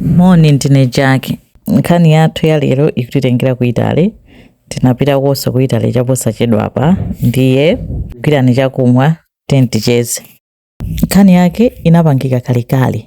Moni, ndine Jack. Nkhani yathu ya lero ikutitengera ku Italy. Tinapitakonso ku Italy chaposachedwapa, ndiye gwirani chakumwa tenticheze. Nkhani yake inapangika kalekale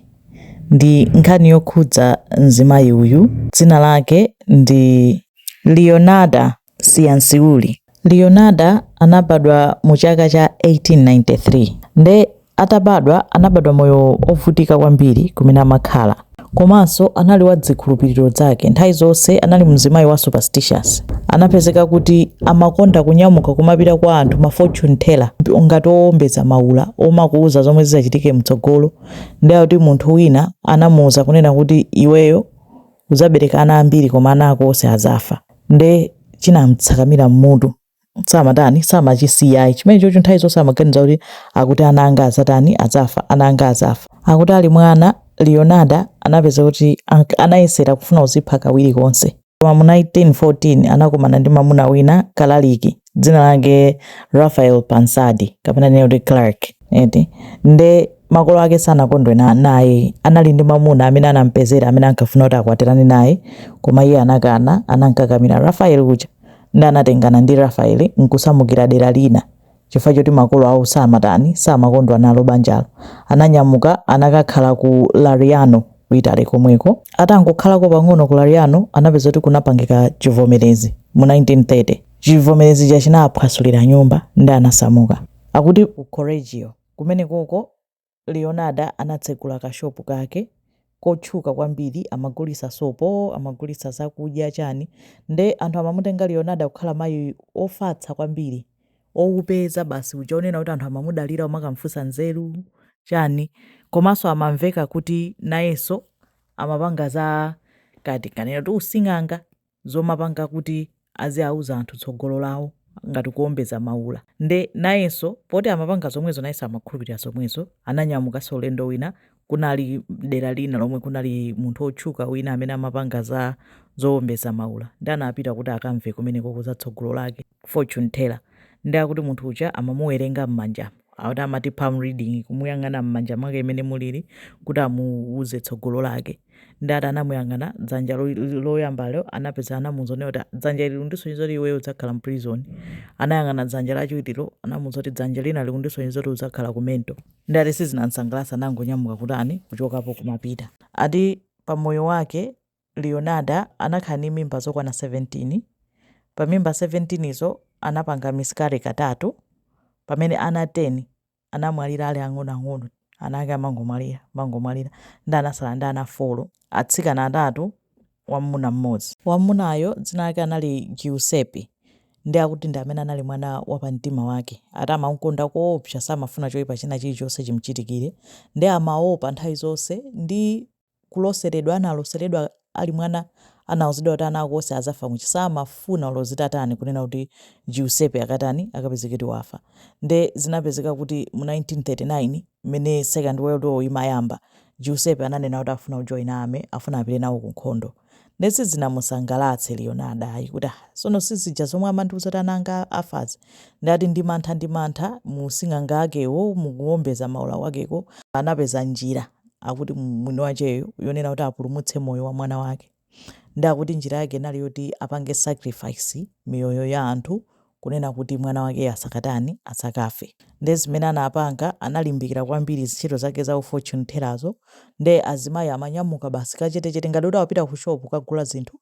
ndi nkhani yokhudza mzimayi uyu dzina lake ndi Leonarda Cianciulli. Leonarda anabadwa mu chaka cha 1893 nde atabadwa anabadwa moyo ovutika kwambiri kumene amakhala komanso anali wa dzikhulupiliro dzake nthawi zonse anali mzimayi wa superstitious anapezeka kuti amakonda kunyamuka kumapita kwa anthu ma fortune teller ngati owombeza maula omakuuza zomwe zizachitike mtsogolo nde akuti munthu wina anamuuza kunena kuti iweyo Udzabereka ana ambiri koma ana ako onse adzafa. Nde chinam'tsakamira m'mutu samatani, samachisiya ayi chimenechocho. Nthawi zonse amaganiza kuti akuti ana anga adzatani, adzafa, ana anga adzafa. Akuti ali mwana, Leonarda anapeza kuti anayesera kufuna kudzipha kawiri konse. Koma mu 1914 anakumana ndi mamuna wina, kalaliki. dzina lake Raphael Pansardi kapena tinene kuti Clark eti nde makolo ake sanakondwe na- naye anali ndi mamuna amene anampezera amene ankafuna kuti akwatirane naye koma iye anakana anankakamira Raphael uja nde anatengana ndi Raphael nkusamukira dera lina chifukwa choti makolo awo samatani samakondwa nalo banjalo ananyamuka anakakhala ku Lariano ku Italy komweko atangokhalako pang'ono ku Lariano anapeza kuti kunapangika chivomerezi mu 1930 Chivomerezi chija chinawaphwasulira nyumba nde anasamuka. Akuti ku Correggio kumenekoko, Leonarda anatsegula kashopu kake kotchuka kwambiri, amagulitsa sopo, amagulitsa zakudya, chani. Nde anthu amamutenga Leonarda kukhala mayi wofatsa kwambiri, woupeza basi uja wonena kuti anthu amamudalira kumakamufunsa nzeru, chani. Komanso amamveka kuti nayenso amapanga za, kaya tinganene kuti using'anga. zomapanga kuti aziauza anthu tsogolo lawo ngati kuombeza maula nde nayenso poti amapanga zomwezo nayenso amakhulupilira zomwezo ananyamukanso ulendo wina kunali dera lina lomwe kunali munthu otchuka wina amene amapanga za zowombeza maula nde anapita kuti akamve kumenekoko za tsogolo lake fortune teller nde akuti munthu uja amamuwerenga mmanjamu akuti amati palm reading kumuyang'ana mmanja mwake mmene mulili kuti amuuze tsogolo lake nde ati anamuyang'ana dzanja lo- loyambalo anapeza anamuuza kuti "Ah, dzanja ili likundisonyeza kuti iweyo udzakhala mprison anayang'ana dzanja lachiwirilo anamuuza kuti dzanja lina likundisonyeza kuti udzakhala ku mental nde ati sizinamsangalatse anangonyamuka kutani kuchokapo kumapita ati pamoyo wake Leonarda anakhala ndi mimba zokwana 17. Pa mimba 17 zo, anapanga miscarry katatu. Pamene ana 10 anamwalira ali ang'onoang'ono, ana ake amangomwalira, amangomwalira, ndi anatsala ndi ana 4, atsikana atatu, wammuna mmodzi. Wammunayo dzina lake anali Giuseppe, ndiye akuti ndi amene anali mwana wapamtima wake. Ati amamkonda koopsa, samafuna choipa china chilichonse chimchitikire, ndiye amaopa nthawi zonse ndi. kuloseredwa analoseredwa ali mwana anauzidwa kuti ana ako onse azafa motero samafuna olo zitatani kunena kuti Giuseppe akatani akapezeke kuti wafa nde zinapezeka kuti mu 1939 mene second world war imayamba Giuseppe ananena kuti afuna kujoina army afuna apite nawo kunkhondo Nde sizinamusangalatse Leonarda ayi kuti ah sono sizija zomwe amandiuza kuti ana anga afazi nde ati ndi mantha ndi mantha mu using'anga akewo mu kuombeza maula kwakeko anapeza njira akuti mwini wacheyo yonena kuti apulumutse moyo wa mwana wake nde akuti njira yake inali yoti apange sacrifice miyoyo ya anthu kunena kuti mwana wakeyo asakatani, asakafe. Nde zimene anapanga analimbikira kwambiri zintchito zake za u fortune teller'zo nde azimayi amanyamuka basi kachetechete ngati kuti akupita ku shop kukagula zinthu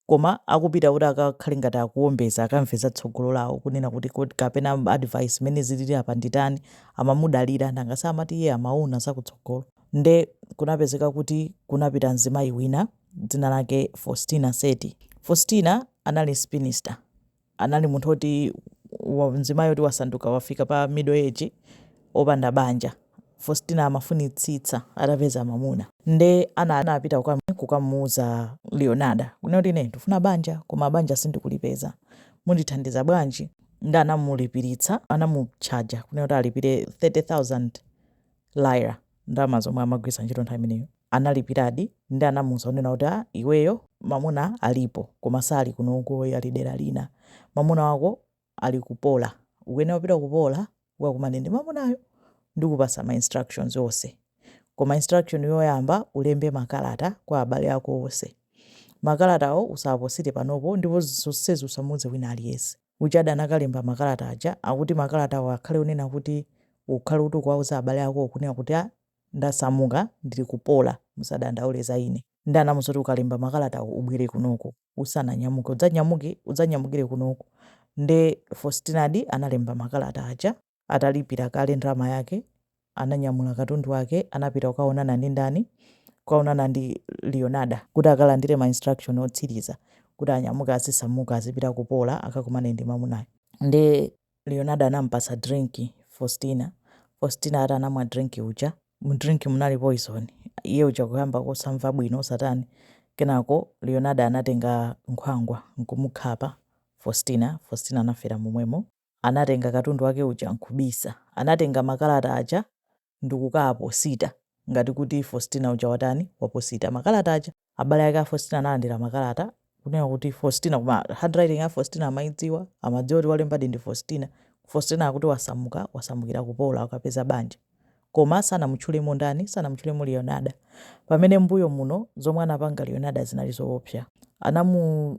koma akupita kuti akakhale ngati akuombeza akamve za tsogolo lawo kunena kuti kod kapena advice mene zilili apa nditani amamudalira nanga si amati iye amaona za kutsogolo nde kunapezeka kuti kunapita mzimayi wina dzina lake Faustina Seti. Faustina anali spinster. anali munthu oti wa- mzimayi oti wasanduka wafika pa middle age opanda banja faustina amafunitsitsa atapeza mamuna nde ana anapita kukam- kukamuuza leonarda kunena kuti ine ndifuna banja koma banja sindikulipeza mundithandiza bwanji nde anamulipiritsa anamutchaja kunena kuti alipire 30000 lira ndalama zomwe amagwiritsa ntchito nthawi imeneyo analipiradi ndi anamuuza kunena kuti a iweyo mamuna alipo koma sali kunoko ayi ali dera lina mamuna wako ali ku Pola ukuyenera kupita ku Pola ukakumane ndi mamunayo ndikupasa ma instructions onse koma instruction yoyamba ulembe makalata kwa abale ako onse makalatawo usaposite panopo ndipo zonsezi usamuuze wina aliyense uchadi anakalemba makalata aja akuti makalatawo akhale unena kuti ukhale kuti ukuwauza abale ako kunena kuti a Ndasamuka ndili ku Pola. Musadandaule za ine. Nde anamuuza zoti ukalemba makalatawo ubwere kunoko. Usananyamuke udzanyamuke udzanyamukire kunoko. Nde Faustinadi analemba makalata aja. Atalipira kale ndalama yake, ananyamula katundu wake anapita kukaonana ndi ndani? Kukaonana ndi Leonarda kuti akalandire ma instruction otsiriza kuti anyamuke azisamuka azipita ku Pola akakumane ndi mamunayo. Nde Leonarda anamupatsa drink Faustina, Faustina ati anamwa drink uja, mu drink munali poison, iye uja kuyamba kosamva bwino kusatani, kenako Leonarda anatenga nkhwangwa nkumukhapa Faustina, Faustina anafera momwemo, anatenga katundu wake uja nkubisa, anatenga makalata aja ndikukaposita ngati kuti Faustina uja watani waposita makalata aja abale ake a Faustina analandira makalata kunena kuti Faustina koma handwriting ya Faustina amaidziwa amadziwa kuti walembadi ndi Faustina Faustina akuti wasamuka wasamukira ku Pola akapeza banja koma sanamutchulemo ndani sanamutchulemo Leonarda pamene mbuyo muno zomwe anapanga Leonarda zinali zoopsa anamu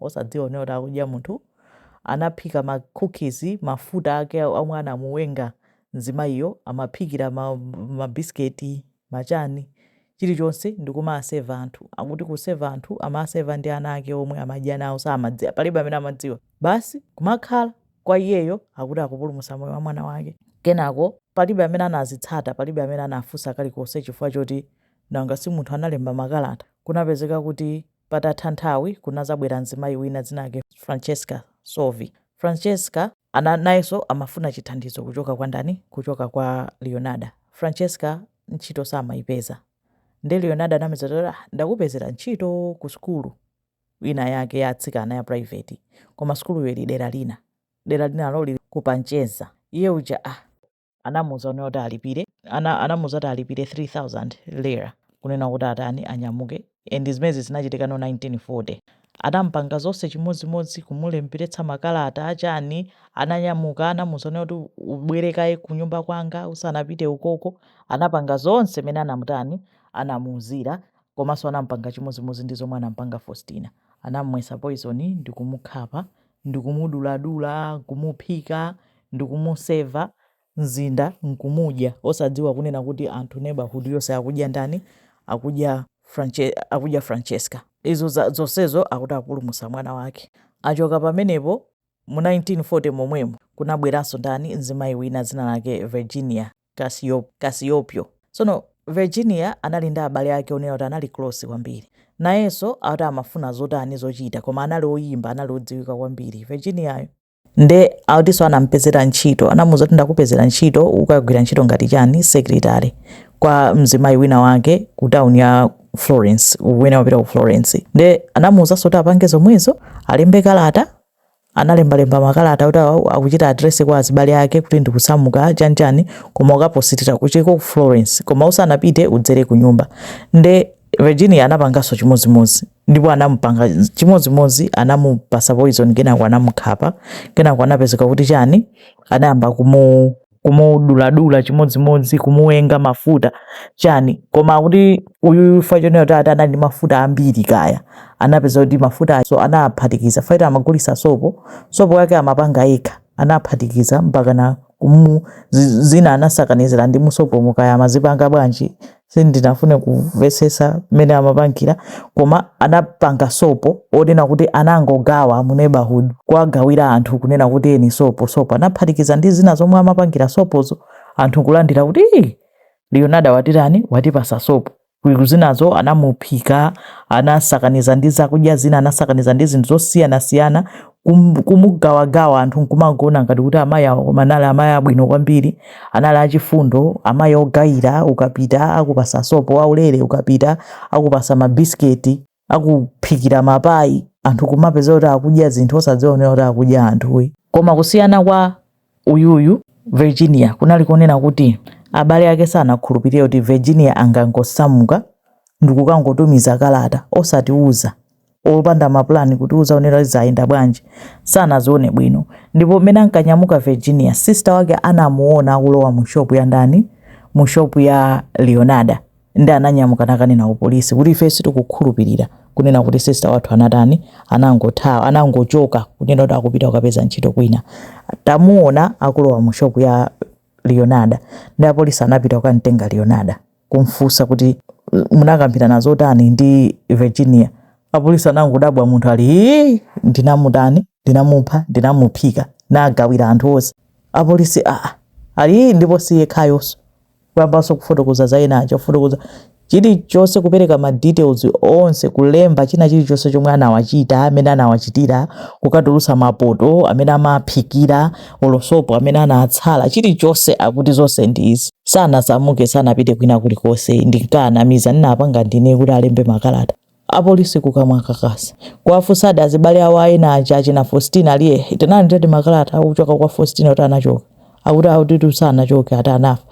osadziwa kunena kuti akudya munthu anaphika ma cookies mafuta ake omwe anamuwenga mzimayiyo amaphikira ma ma biscuit machani chilichonse ndikumaseva anthu akuti kuseva anthu amaseva ndi ana ake omwe amadya nawo samadzi palibe amene amadziwa basi kumakhala kwa iyeyo akuti akupulumutsa moyo wa mwana wake kenako palibe amene anazitsata palibe amene anafunsa kalikonse chifukwa choti nanga si munthu analemba makalata kunapezeka kuti Patatha nthawi, kunadzabwera mzimayi wina dzina lake Francesca Soavi. Francesca ana, nayenso amafuna chithandizo kuchoka kwa ndani? Kuchoka kwa Leonarda. Francesca ntchito samayipeza. Nde Leonarda anamuuza kuti, ah, ndakupezera ntchito ku sukulu ina yake ya atsikana ya private. Koma sukuluyo ili dera lina. Dera linalo liri ku Piacenza. Iye uja, ah. anamuuza kunena kuti alipire ana, anamuuza kuti alipire 3000 lira kunena kuti atani anyamuke and zimezi zinachitika mu 1940 anampanga zonse chimodzimodzi kumulemberetsa makalata achani ananyamuka anamuuza kunena kuti ubwere kaye kunyumba kwanga usanapite ukoko anapanga zonse mene anamutani anamuuzira komanso anampanga chimodzimodzi ndi zomwe anampanga faustina anamumwetsa poison ndikumukhapa ndikumuduladula, kumuphika, ndikumuseva, mzinda nkumudya, osadziwa kunena kuti anthu neighborhood yonse akudya ndani, akudya Franche, akudya Francesca. Izo za, zonsezo akuti apulumutsa mwana wake. Achoka pamenepo, mu 1940 momwemo, kunabweranso ndani, mzimayi wina dzina lake Virginia. Cacioppo. Tsono Virginia anali ndi abale ake onena kuti anali close kwambiri. Nayenso akuti amafuna zotani zochita koma anali oyimba anali odziwika kwambiri Virginia yo. Nde akutinso anamupezera ntchito anamuuza kuti ndakupezera ntchito ukagwira ntchito ngati chani secretary kwa mzimayi wina wake ku town ya Florence, kumene amapita ku Florence. Nde anamuuzanso kuti apange zomwezo alembe kalata Analembalemba makalata oti akuchita address kwa azibale ake kuti ndikusamuka chani chani koma ukapositire kukafika ku Florence koma usanapite udzere kunyumba nde Virginia anapanganso chimodzimodzi ndipo anamupanga chimodzimodzi anamupasa poison kenako anamukhapa kenako anapezeka kuti chani anayamba kumu kumuduladula chimodzimodzi kumuwenga mafuta chani koma akuti uyuyu pa chonena kuti ati anali ndi mafuta ambiri kaya anapeza kuti mafutanso anaphatikiza paja amagulisa sopo sopo wake amapanga yekha anaphatikiza mpaka na kumu zina anasakanizira ndi mu sopomu kaya amazipanga bwanji Sindinafune kumvetsetsa mmene amapangila koma anapanga sopo onena kuti anangogawa mu neighborhood kuwagawila anthu kunena kuti eni sopo sopo anaphatikiza ndi zina zomwe amapangila sopozo anthu kulandila kuti iih Leonarda watitani watipasa sopo kuliku zinazo anamuphika anasakaniza ndi zakudya zina anasakaniza ndi zinthu zosiyanasiyana kum- kumugawagawa anthu nkumangoona ngati kuti amayi awo koma anali amayi abwino kwambiri anali achifundo amayi ogayira ukapita akupasa sopo aulere ukapita akupasa mabisiketi akuphikira mapayi anthu kumapeza kuti akudya zinthu osadziwa kunena kuti akudya anthu ii koma kusiyana kwa Uyuyu Virginia kunali konena kuti abale ake sanakhulupirire kuti Virginia angangosamuka ndikukangotumiza kalata osatiuza opanda mapulani kutiuza kunena kuti zayenda bwanji sanazimve bwino ndipo mmene ankanyamuka Virginia sister wake anamuona akulowa mu shop ya ndani mu shop ya Leonarda nde ananyamuka nakanena ku polisi kuti ife sitikukhulupilira kunena kuti sister wathu anatani anangothawa anangochoka kunena kuti akupita kukapeza ntchito kwina tamuona akulowa mu shop ya leonarda nde apolisi anapita kukamtenga leonarda kumfunsa kuti munakambirana zotani ndi virginia apolisi anangodabwa munthu ali "Hii, ndinamutani ndinamupha ndinamuphika nagawira anthu onse apolisi aa ali "Hii, ndipo siyekhayoso kuyambanso kufotokoza za ena aja kufotokoza chilichonse kupereka ma details onse kulemba china chilichonse chomwe anawachita mmene anawachitira kukatulutsa mapoto amene amaphikira olo sopo amene anatsala chilichonse akuti zonse ndi izi sanasamuke sanapite kwina kulikonse ndinkawanamiza ndinapanga ndine kuti alembe makalata Apolisi kukamwa kakasi kuwafunsadi azibale awo a ena aja achina Faustina ali eeh tinalandiradi makalata akuchoka kwa Faustina kuti anachoka akuti akuti ayitu sanachoke ati anafa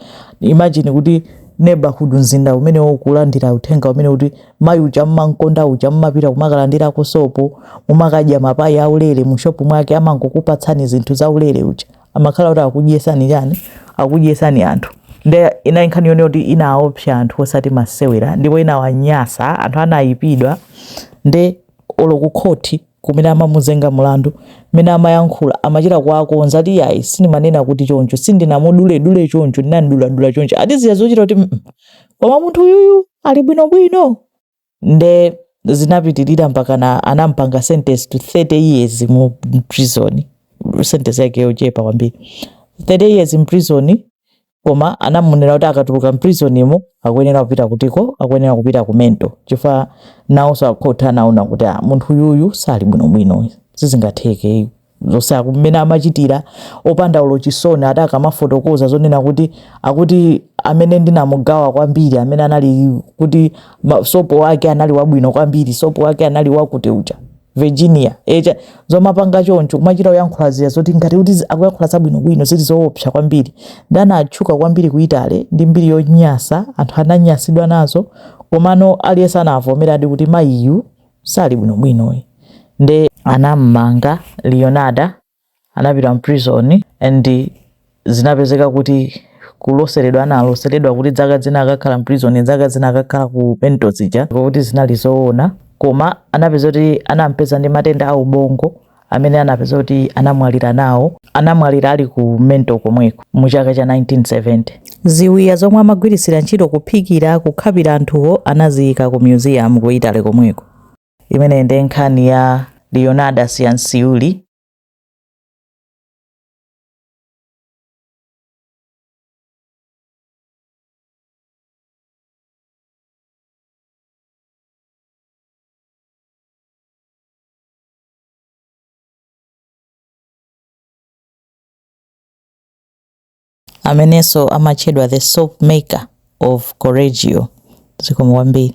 imagine kuti neighborhood mzinda umenewo kulandira uthenga onena kuti mayi uja mmankonda uja mmapita kumakalandirako sopo mumakadya mapayi aulere mu shop mwake amangokupatsani zinthu zaulere uja amakhala kuti akudyesani chani akudyesani anthu nde inali nkhani yonena kuti inaopsa anthu osati masewera ndipo inawanyasa anthu anayipidwa nde olo ku khoti kumene amamuzenga mulandu mmene amayankhula amachita kuwakonza ati yayi sinimanena kuti choncho sindinamuduledule choncho ndinamuduladula choncho adziwa zochita kuti koma munthu uyuyu ali bwinobwino nde zinapitilira mpakana anampanga sentence to 30 years mu prison sentence yake yochepa kwambiri 30 years in prison koma anamunena kuti akatuluka mprisonimo akuyenera kupita kutiko akuyenera kupita ku mental chifukwa nawonso akhoti anaona kuti ah, munthu uyuyu sali bwinobwino sizingatheke zonse mmene amachitira opanda olo chisoni ati akamafotokoza zonena kuti akuti amene ndinamugawa kwambiri amene anali kuti sopo wake anali wabwino kwambiri sopo wake anali wakuti uja Virginia uja zomapanga choncho kumachita kuyankhula zija zoti ngati kuti akuyankhula zabwino bwino zili zoopsa kwambiri nde anatchuka kwambiri ku Italy ndi mbiri yonyasa anthu ananyasidwa nazo komano aliyense anavomeradi kuti mayiyu sali bwino bwino ayi nde anam'manga Leonarda anapita mprison and zinapezeka kuti kuloseredwa analoseredwa kuti dzaka zina akakhala mprison dzaka zina akakhala ku mental zija kuti zinali zoona koma anapezeka kuti anampeza ndi matenda a ubongo amene anapeza kuti anamwalira nawo anamwalira ali ku mental komweko mu chaka cha 1970 ziwiya zomwe amagwiritsira ntchito kuphikira kukhapira anthuwo anaziyika ku museum ku italy komweko imeneyi ndi nkhani ya leonarda cianciulli amenenso amatchedwa the soap maker of correggio zikomo kwambiri